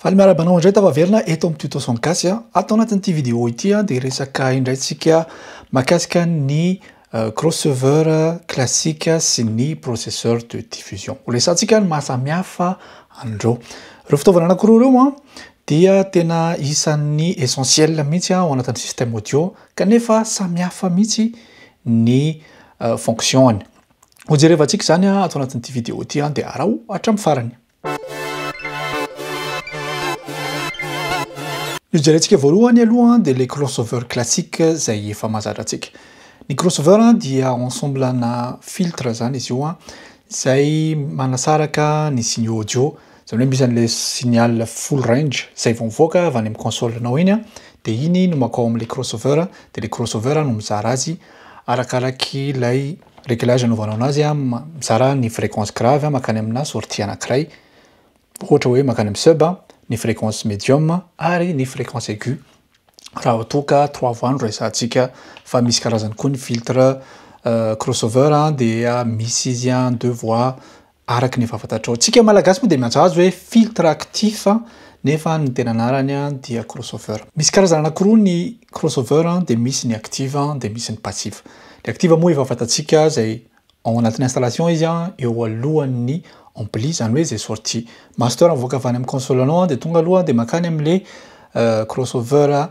Faly miarahaba anao indray tafaverina eto amin'ny Tuto son Gasy a. Ato anatin'ity vidéo ity a dia hiresaka indray tsika mahakasika ny crossoveur classique sy ny processeur de diffusion. Ho resahantsika ny maha samy hafa an'ireo. Ireo fitaovana anankiroa ireo a dia tena isan'ny essentiel mihitsy ao anatin'ny système audio kanefa samy hafa mihitsy ny fonction-ny. Ho jerevantsika izany ato anatin'ity vidéo ity dia araho hatramin'ny farany. Ny jerentsika voalohany aloha dia le crossover classique izay efa mazatra antsika. Ny crossover dia ensemble na filtre izany izy io an, izay manasaraka ny signe audio, izany hoe misy an'ilay signal full range izay vao mivoaka avy any amin'ny console anao iny an, dia iny no makao amin'ilay crossover dia ilay crossover no mizara azy arakaraky ilay Réglage anaovanao anazy a, mizara ny fréquence grave mankany amina sortie anakiray, ohatra hoe mankany amin'ny sub, ny fréquence medium ary ny fréquence aiguë raha toa ka trois voix no resahantsika fa misy karazany koa ny filtre crossover dia misy izy a deux voix Araka ny efa fantatrao, tsika Malagasy moa dia miantsoazy hoe filtre actif nefa ny tena anarany dia crossover. Misy karazana anakiroa ny crossover dia misy ny actif dia misy ny passif. Ny actif moa efa fantatsika izay ao anatin'ny installation izy eo alohan'ny ampli izany hoe izay sortie master mivoaka avy any amin'ny console anao dia tonga aloha dia makany amin'ilay crossover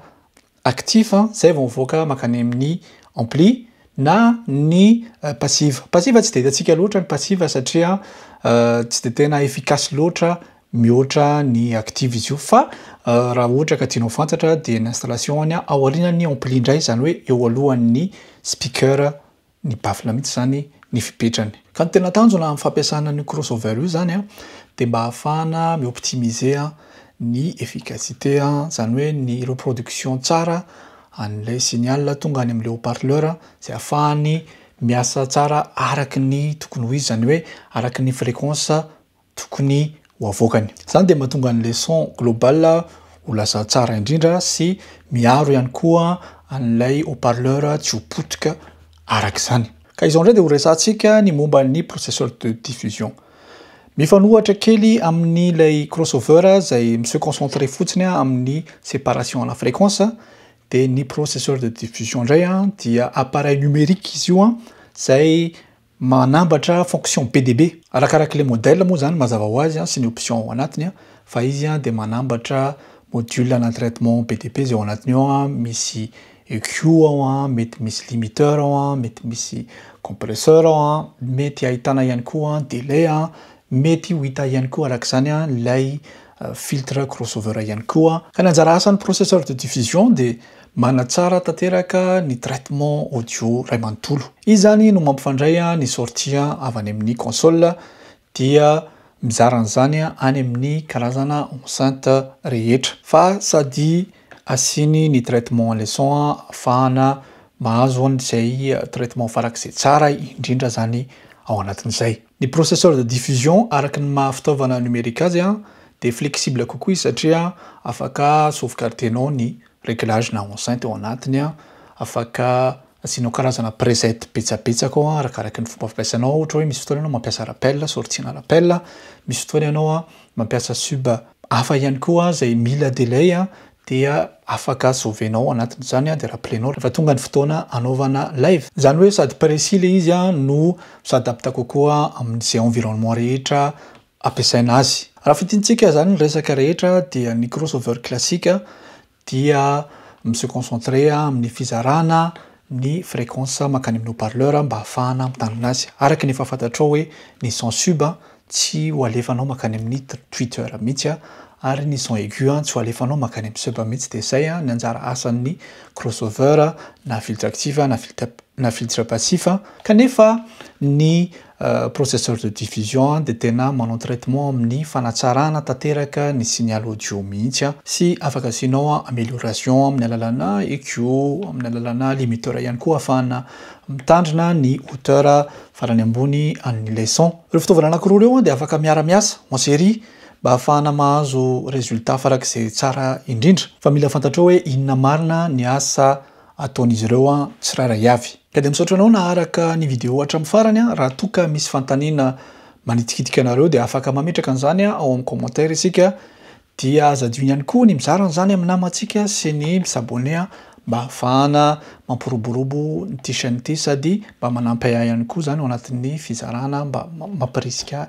actif zay vao mivoaka makany amin'ny ampli na ny passive. Passive tsy dia hitantsika loatra ny passive satria tsy dia tena efficace loatra mihoatra ny active izy io fa raha ohatra ka tianao fantatra dia ny installation-ny ao aorianan'ny ampli indray izany hoe eo alohan'ny speaker ny baffle mihitsy izany ny fipetrany. Ka ny tena tanjona amin'ny fampiasana an'io crossover io izany dia mba ahafahana mi-optimiser ny efficacité, izany hoe ny reproduction tsara an'ilay signal tonga any amin'ilay haut-parleur izay ahafahany miasa tsara araka ny tokony ho izy, izany hoe araka ny fréquence tokony ho avoakany. Izany dia mahatonga ny leçon globale ho lasa tsara indrindra sy miaro ihany koa an'ilay haut-parleur tsy ho potika araka izany. Ka izao indray dia ho resahantsika ny momba ny processeur de diffusion. Mifanohatra kely amin'ilay crossover izay mi-se concentrer fotsiny amin'ny séparation à la fréquence dia ny processeur de diffusion indray dia appareil numérique izy io izay Manambatra fonction be dia be. Arakarak'ilay modèle moa izany mazava ho azy sy ny option ao anatiny fa izy dia manambatra module ana traitement be dia be izay ao anatiny ao, misy EQ ao, mety misy limiteur ao, mety misy compresseur ao, mety ahitana ihany koa delai, mety ho hita ihany koa arak'izany ilay filtre crossover ihany koa. Ka ny anjara asan'ny processeur de diffusion dia manatsara tanteraka ny traitement audio iray manontolo. Izy izany no mampifandray ny sortie avy any amin'ny console dia mizara an'izany any amin'ny karazana enceinte rehetra fa sady Asiny ny traitement leçon afahana mahazo an izay traitement farak'izay tsara indrindra zany ao anatin'izay. Ny processeur de diffusion araky ny maha fitaovana numérique azy an dia flexible kokoa izy satria afaka sauvegardenao ny reglage na enceinte ao anatiny an, afaka Asianao karazana preset betsabetsaka ao arakaraky ny fomba fampiasanao ao ohatra hoe misy fotoana ianao mampiasa rappel sortiana rappel, misy fotoana ianao mampiasa sub hafa ihany koa izay mila delay dia afaka sauver-nao anatin'izany dia rappele-nao rehefa tonga ny fotoana hanaovana live. Izany hoe sady précis ilay izy no mi-s'adapte kokoa amin'izay environnement rehetra ampiasaina azy. Raha fintinintsika izany ny resaka rehetra dia ny crossover classique dia mi-se concentrer amin'ny fizarana ny fréquence mankany amin'ny haut-parleur mba hahafahana mitandrina azy. Araka ny efa fantatrao hoe ny son sub tsy ho alefanao mankany amin'ny tweeter mihitsy ary ny son aigu tsy ho alefanao mankany amin'ny sub mihitsy dia izay ny anjara asan'ny crossover na filtre actif na filtre passif kanefa ny Processeur de diffusion dia tena manao traitement amin'ny fanatsarana tanteraka ny signal audio mihitsy an, sy afaka asianao amelioration amin'ny alalana EQ, amin'ny alalana limiteur ihany koa ahafahana mitandrina ny hauteur farany ambony an'ilay son. Ireo fitaovana anankiroa ireo dia afaka miara miasa en série mba ahafahana mahazo résultat farak'izay tsara indrindra. Fa mila fantatrao hoe inona marina ny asa. ataon'izy ireo tsirairay avy. Ka dia misaotra anao naharaka ny video hatramin'ny farany, raha toa ka misy fanontaniana manitikitika anareo dia afaka mametraka an'izany ao amin'ny commentaire isika, dia aza adino ihany koa ny mizara an'izany amin'ny namantsika sy ny mi-s'abonner mba ahafahana mampiroborobo ity chaîne ity sady mba manampy ahy ihany koa izany ao anatin'ny fizarana mba mampirisika